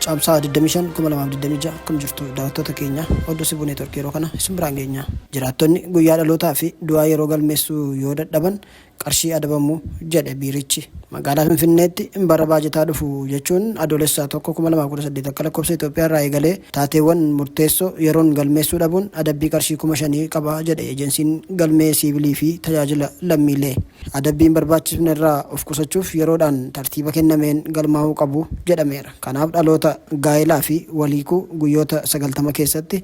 Caamsaa 25 2026 akkam jirtu daawwattoota keenya oduu sibuu neetworkii yeroo kana isin biraan geenya. Jiraattonni guyyaa dhalootaa fi du'aa yeroo galmeessuu yoo dadhaban qarshii adabamu jedhe biirichi. Magaalaa Finfinneetti bara baajataa dhufu jechuun Adoolessa 1, 2018 akka lakkoofsa Itoophiyaa irraa eegalee taateewwan murteessoo yeroon galmeessuu dhabuun adabbii qarshii 5,000 qaba jedhe Ejensiin Galmee Siivilii fi Tajaajila Lammiilee. Adabbiin barbaachisfne irraa of qusachuuf yeroodhaan tartiiba kennameen galmaa'uu qabu jedhameera. Kanaaf dhaloota gaa'elaa fi wal hiikuu guyyoota 90 keessatti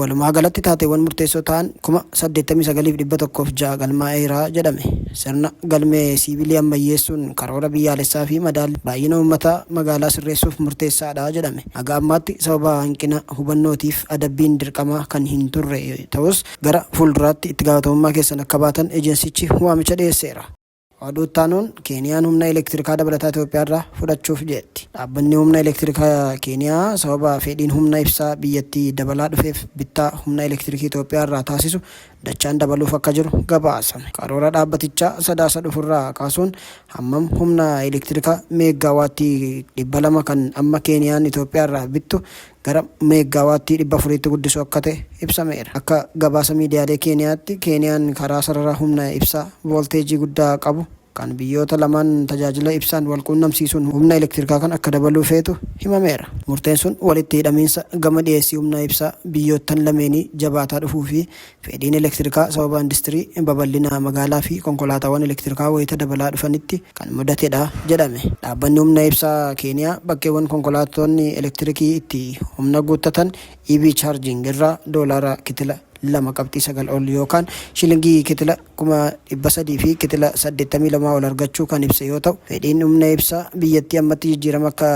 Walumaagalatti taateewwan murteessoo ta'an 89,106 galmaa'eera jedhame. Sirna galmee siivilii ammayyeessuun karoora biyyaalessaa fi madaalli baay'ina uummataa magaalaa sirreessuuf murteessaadha jedhame. Haga ammaatti sababa hanqina hubannootiif adabbiin dirqamaa kan hin turre ta'us gara fuulduraatti itti gaafatamummaa keessan akka baatan ejensichi waamicha dhiyeesseera. Oduu itti aanuun Keeniyaan humna elektirikaa dabalataa Itoophiyaarraa fudhachuuf jeetti. Dhaabbanni humna elektirika Keeniyaa sababa fedhiin humna ibsaa biyyattii dabalaa dhufeef bittaa humna elektirikii Itoophiyaarraa taasisu dachaan dabaluuf akka jiru gabaasame. Karoora dhaabbatichaa Sadaasa dhufurraa kaasuun hammam humna elektirika meeggaa waattii 200 kan amma Keeniyaan Itoophiyaarraa bittu gara meeggaawaattii 400tti guddisuu akka ta'e ibsameera. Akka gabaasa miidiyaalee Keeniyaatti, Keeniyaan karaa sarara humna ibsaa voolteejii guddaa qabu kan biyyoota lamaan tajaajila ibsaan walquunnamsiisuun humna elektirikaa kan akka dabaluu feetu himameera. Murteen sun walitti hidhamiinsa gama dhiyeessii humna ibsaa biyyoottan lameenii jabaataa dhufuu fi Fedhiin elektirikaa sababa industirii babal'ina magaalaa fi konkolaataawwan elektirikaa wayita dabalaa dhufanitti kan mudatedha jedhame. Dhaabbanni Humna Ibsaa Keeniyaa bakkeewwan konkolaattonni elektirikii itti humna guuttatan, EV charging, irraa doolaara kitila 2.9 ol yookaan shilingii kitila 300,000 fi kitila 82 ol argachuu kan ibse yoo ta'u, fedhiin humna ibsaa biyyattii ammatti jijjiirama akka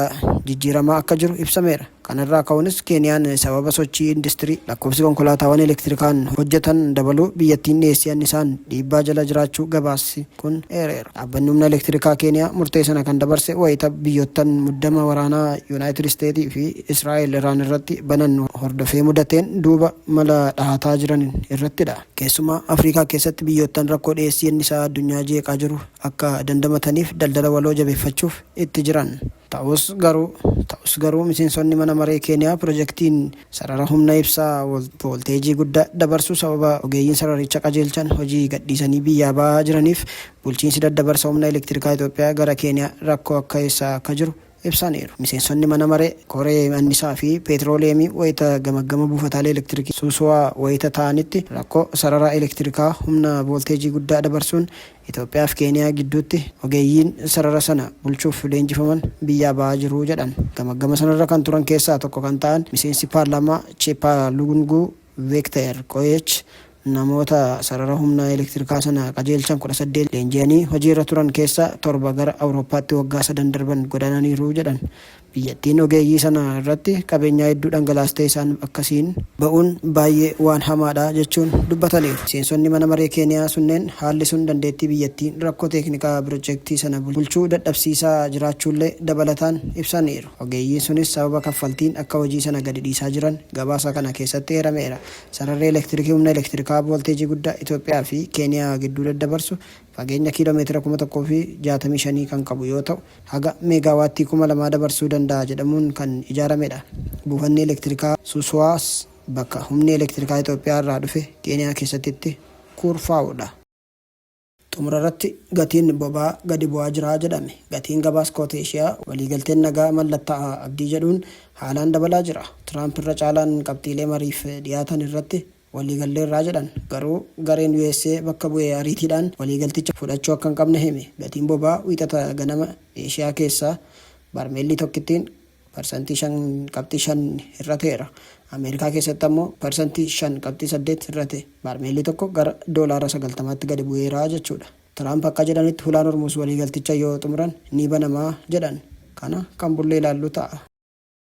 jijjiiramaa akka jiru ibsameera. Kanarraa ka'uunis Keeniyaan sababa sochii industirii lakkoofsi konkolaataawwan elektirikaan hojjetan dabaluu biyyattiin dhiyeessii annisaan dhiibbaa jala jiraachuu gabaasi kun eereera. Dhaabbanni Humna Elektirikaa Keeniyaa murtee sana kan dabarse wayita biyyoottan muddama waraanaa Yunaayitid Isteetii fi Israa'el Iraan irratti banan hordofee mudateen duuba mala dhahataa jiran irrattidha. Keessumaa Afriikaa keessatti biyyoottan rakkoo dhiyeessii annisaa addunyaa jeeqaa jiru akka dandamataniif daldala waloo jabeeffachuuf itti jiran. Ta'us garuu Ta'us garuu miseensonni mana maree Keeniyaa pirojektiin sarara humna ibsaa voolteejii guddaa dabarsu sababa ogeeyyiin sararicha qajeelchan hojii gadhiisanii biyyaa ba'aa jiraniif bulchiinsi daddabarsa humna elektirikaa Itoophiyaa gara Keeniyaa rakkoo akka keessa akka jiru ibsaniiru. Miseensonni mana maree koree annisaa fi peetirooliyeemii wayita gamaggama buufataalee elektirikii Suusuwaa wayita taa'anitti rakkoo sarara elektirikaa humna voolteejii guddaa dabarsuun Itoophiyaa fi Keeniyaa gidduutti ogeeyyiin sarara sana bulchuuf leenjifaman biyyaa ba'aa jiru jedhan. Gamaggama sanarra kan turan keessaa tokko kan ta'an miseensi paarlaamaa Cheeppaa Lugunguu Veekteer Qoyeech namoota sarara humna elektirikaa sana qajeelchan 18 leenji'anii hojiirra turan keessaa torba gara Awurooppaatti waggaa sadan darban godaananiiru jedhan. Biyyattiin ogeeyyii sana irratti qabeenyaa hedduu dhangalaastee isaan akkasiin ba'uun baayyee waan hamaadha jechuun dubbataniiru. Miseensonni mana maree Keeniyaa sunneen haalli sun dandeettii biyyattiin rakkoo teeknikaa pirojektii sana bulchuu dadhabsiisaa jiraachuullee dabalataan ibsaniiru. Ogeeyyiin sunis sababa kaffaltiin akka hojii sana gadi dhiisaa jiran gabaasa kana keessatti eerameera. Sararri elektirikii humna elektirikaa voolteejii guddaa Itoophiyaa fi Keeniyaa gidduu daddabarsu fageenya kiiloo meetira 1065 kan qabu yoo ta'u, haga meegaawaattii 2000 dabarsuu danda'a jedhamuun kan ijaaramedha. Buufanni elektirikaa Susuwaas bakka humni elektirikaa Itoophiyaa irraa dhufe Keeniyaa keessatti itti kuurfaa'udha. Xumurarratti gatiin boba'aa gadi bu'aa jira jedhame. Gatiin gabaa Iskooti Eshiyaa waliigalteen nagaa mallattaa'a abdii jedhuun haalaan dabalaa jira. Tiraamp irra caalaan qabxiilee mariif dhiyaatan irratti waliigalleerra jedhan. Garuu gareen usa bakka bu'e ariitiidhaan waliigalticha fudhachuu akka hin qabne hime. Gatiin boba'aa Wiixata ganama Eeshiyaa keessaa barmeelli tokkittiin parsantii 5.5 hir'ateera. Ameerikaa keessatti ammoo parsantii 5.8 hir'ate. Barmeelli tokko gara doolaara 90tti gadi bu'eera jechuudha. Tiraamp akka jedhanitti Hulaan Hormuuz waliigalticha yoo xumuran ni banama jedhan. Kana kan bullee ilaallu ta'a.